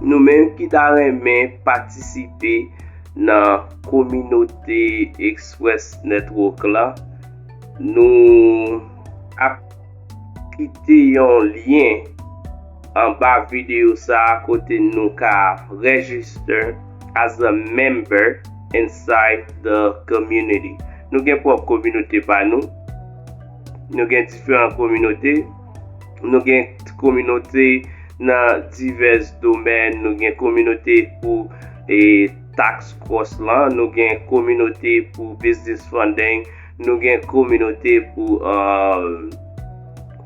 Nou menm ki ta renmen patisipe nan kominote Express Network la, nou ap kite yon lyen anba videyo sa a kote nou ka register as a member inside the community. Nou gen pwòp kominote pa nou, nou gen diferan kominote. Nou gen kominote nan divès domèn, nou gen kominote pou e tax cross lan, nou gen kominote pou business funding, nou gen kominote pou um,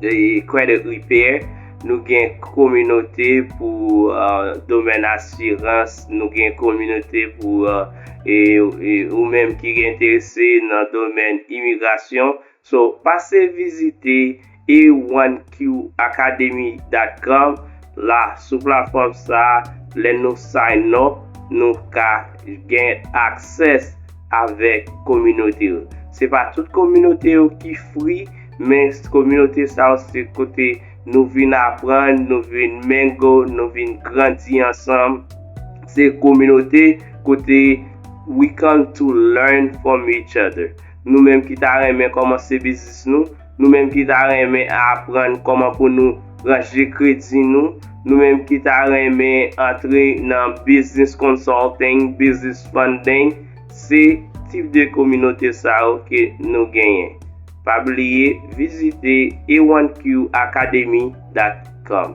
e credit repair, nou gen kominote pou uh, domèn asirans, nou gen kominote pou uh, e, e ou menm ki enterese nan domèn imigrasyon, So, pase vizite e1qacademy dot com la sou platfòm sa lè nou sign up nou ka gen access avèk kominote yo. Se pa tout kominote yo ki free men kominote sa yo se kote nou vin aprann, nou vin mingle, nou vin grandi ansanm, se kominote kote we come to learn from each other. Nou menm ki ta renmen kòmanse biznis nou, nou menm ki ta renmen aprann kòman pou nou ranje kredi nou, nou menm ki ta renmen antre nan business consulting, business funding, se tip de kominote sa yo ke nou genyen. Pa bliye vizite a1qacademy.com.